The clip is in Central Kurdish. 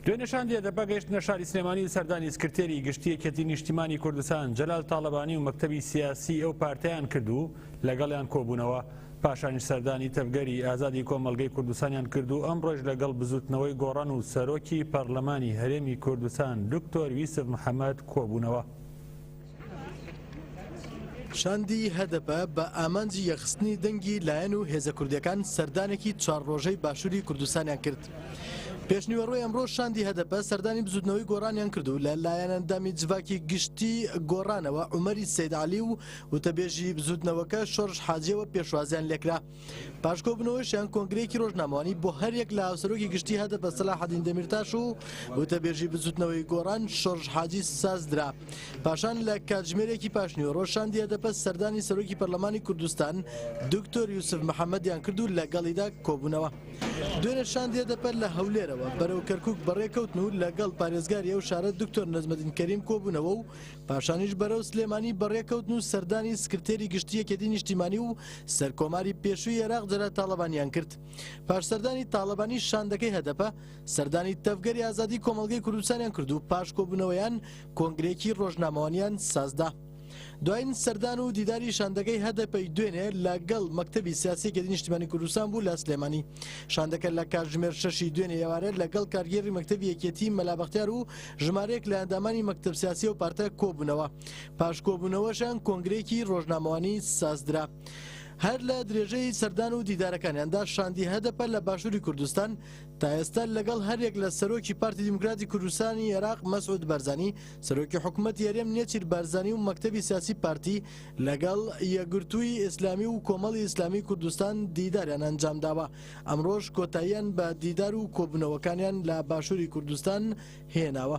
دوێنێ شاندی ئەدەپە گەیشتنە شاری سلێمانی و سەردانی سکرتێری گشتی یەکێتی نیشتیمانی کوردستان جەلال تاڵەبانی و مەکتەبی سیاسی ئەو پارتیان کرد و لەگەڵیان کۆبوونەوە پاشانیش سەردانی تەڤگەری ئازادی کۆمەلگەی کوردستانیان کرد و ئەمڕۆژ لەگەڵ بزوتنەوەی گۆڕان و سەرۆکی پەرلەمانی هەرێمی کوردستان دکتۆر یوسف محەمەد کۆبوونەوە. شاندی هەدەپە بە ئامانجی یەخستنی دەنگی لایەن و هێزە کوردەکان سەردانێکی چوار ڕۆژەی باشووری کوردستانیان کرد. پێشنیوەڕۆی ئەمڕۆ شاندی هەدەپە سەردانی بزوتنەوەی گۆڕانیان کرد و لە لایەنەندامی جڤاکی گشتی گۆڕانەوە عمەری سید علی و وتەبێژی بزوتنەوەکە شۆرش حاجیەوە پێشوازیان لێکرا. پاش کۆبوونەوەشیان کۆنگرەیەکی رۆژنامەوانی بۆ هەریەک لە هاوسەرۆکی گشتی هەدەپە سەلاحەدین دەمیرتاش و وتەبێژی بزووتنەوەی گۆڕان شۆرش حاجی سازدرا پاشان لە کاتژمێرێکی پاشنیوەڕۆ شاندی هەدەپە سەردانی سەرۆکی پەرلەمانی کوردستان دکتۆر یوسف محەممەدیان کرد و لەگەڵیدا کۆبوونەوە دوێنێ شاندی هەدەپە لە هەولێرەوە بەرەو کەرکک بەڕێکەوتن و لەگەڵ پارێزگاری ئەو شارە دکتۆر نەجمەدین کەریم کۆبوونەوە و پاشانیش بەرەو سلێمانی بەڕێکەوتن و سەردانی سکرتێری گشتی یەکێتی نیشتیمانی و سەرکۆماری پێشووی عێراق جەلال تاڵەبانیان کرد پاش سەردانی تاڵەبانی شاندەکەی هەدەپە سەردانی تەڤگەری ئازادی کۆمەڵگەی کوردستانیان کرد و پاش کۆبوونەوەیان کۆنگرێکی ڕۆژنامەوانیان سازدا دوایین سەردان و دیداری شاندەکەی هەدەپەی دوێنێ لەگەڵ مەکتتەبی سیاسیەکی نیشتمانی کوردستان بوو لە سلێمانی شاندەکە لە کاتژمێر شەشی دوێنێ ئێوارە لەگەڵ کارگێری مەکتتەبی یەکێتی مەلابختیار و ژمارەیەک لە ئەندامانی مەکتەب سیاسی و پارتە کۆبوونەوە پاش کۆبوونەوەشان کۆنگرێکی ڕۆژنامەوانی سازدرا. هەر لە درێژەی سەردان و دیدارەکانیاندا شاندی هەدەپە لە باشووری کوردستان تا ئێستا لەگەڵ هەریەک لە سەرۆکی پارتی دیموکراتی کوردستانی عێراق مەسعود بەرزانی سەرۆکی حکوومەت یاریێم نێچیر بارزانانی و مەکتتەبی سیاسی پارتی لەگەڵ یەگرتووی ئیسلامی و کۆمەڵی ئیسلامی کوردستان دیداریان ئەنجام داوە ئەمڕۆش کۆتاییان بە دیدار و کۆبوونەوەکانیان لە باشووری کوردستان هێناوە.